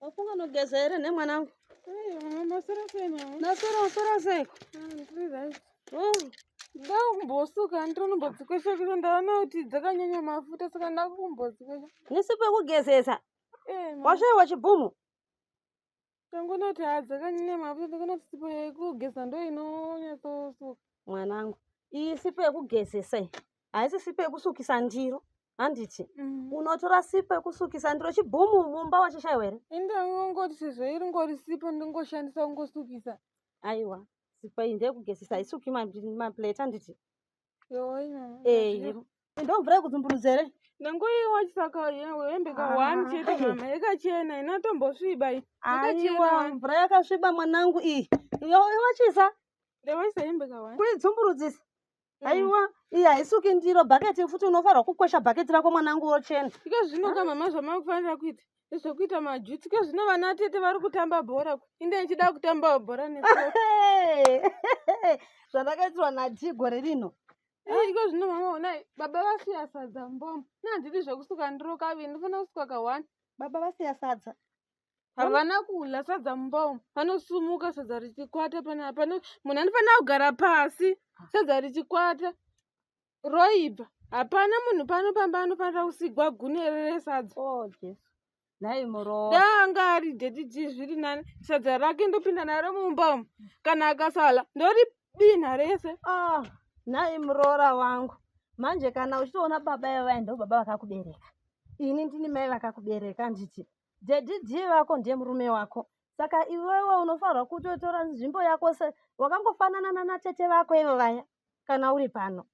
wafunga unogeza here nemwanangu nasora usora seiko ndakumbosuka ndinonombodzikwesha kusa ndaona kuti dzakanyanya mafuta saka ndakumbodzikwesha nisi pekugezesa eh, washaiwa chibhumu tangonoti hadzakanyanya mafuta takanoti sipo yekugeza ndo inonyatsosuka mwanangu iyi sipo yekugezesa iyi haisi sipo yekusukisa ndiro handiti mm. unotora sipo yekusukisa ndiro chibhumu mumba wachishaiwa here ini ndangongoti sezvo iri ngori sipo ndingoshandisa kungosukisa aiwa sipo iyi ndeyekugezesa haisuki maplate handiti Eh, ndo mvura yekudzumburudza here nangu iyi wachisaka hembe ka one chete mama yakachena ina tombosviba iyi aiwa mvura yakasviba mwanangu iyi iwachisa ndewaisa hembe ka one kuidzumburudzisa mm. aiwa iyi haisuki ndiro bhaketi futi unofanirwa kukwesha bhaketi rako mwanangu wochena ika zvino ka mama zvamakufanira kuita zvekuita majuti ke zvino vana tete vari kutamba bhora inde ichida kutamba bhora ne zvandakaitirwa nati gore rino iko zvino mama onai baba vasiya sadza mbomo nandidi zvekusuka ndiro kaviri ndifana kusuka ka one baba vasiya sadza havana kula sadza mbomo vanosumuka sadza richikwata panapa munhu andifanira kugara pasi sadza richikwata roibva hapana munhu pano pamba anofanira kusigwa gune reresadza oh, nhai murowa daanga ari dediji zviri nani sadza rake ndopinda naro mumba umu kana akasala ndori binha rese ah, nhai muroora wangu manje kana uchitoona baba ivaya ndo baba vakakubereka ini ndini mai vakakubereka nditi dediji vako ndiye murume wako saka iwewe unofanirwa kutotora nzvimbo yako se wakangofanana nanatete vako ivo vaya kana uri pano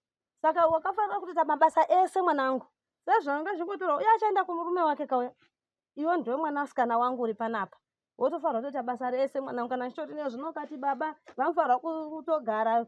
saka wakafanira kutoita mabasa ese mwanangu sezvanga zvingotorwa uye achaenda kumurume wake kauya iwe ndiwe mwanasikana wangu uri panapa wotofanirwa kutoita basa rese mwanangu kana chitori ne zvinokati baba vanofanirwa kutogara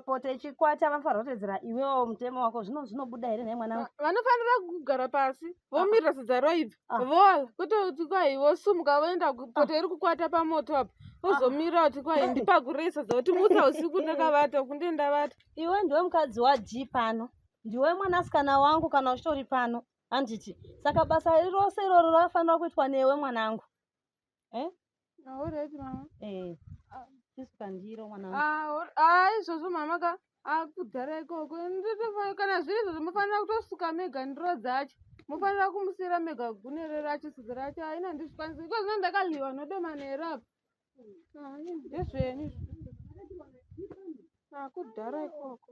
poto ichikwata vanofanirwa kutedzera iwewo mutemo wako zvino zvinobuda here nhai mwanangu vanofanira kugara pasi vomirira sidzaro ibva Ah. voala kutoti kwai vosumuka voenda Ah. kupota iri kukwata pamoto apa vozomira kuti kwai ndipakuresa zauti mutsa usiku ndakavata kunde ndavata iwe ndiwe mukadzi wadii pano ndiwe mwanasikana wangu kana uchitori pano handiti saka basa rose iroro rafanira kuitwa newe mwanangu Eh? Ah, all right mama. Eh. Ah. Sisi pandiro mwana. Ah, all... ah izvozvo mama ka akudhara ah, ikoko. Nditofanira kana zviri izvozvo mofanira kutosuka mega ndiro dzacho. Mofanira kumusira mega gune rero achisuka racho haina ndizvikwanisa. Iko zvino ndakaliwa nodomana here apa. Ah, ndezvenyu. Akudhara ah, ikoko.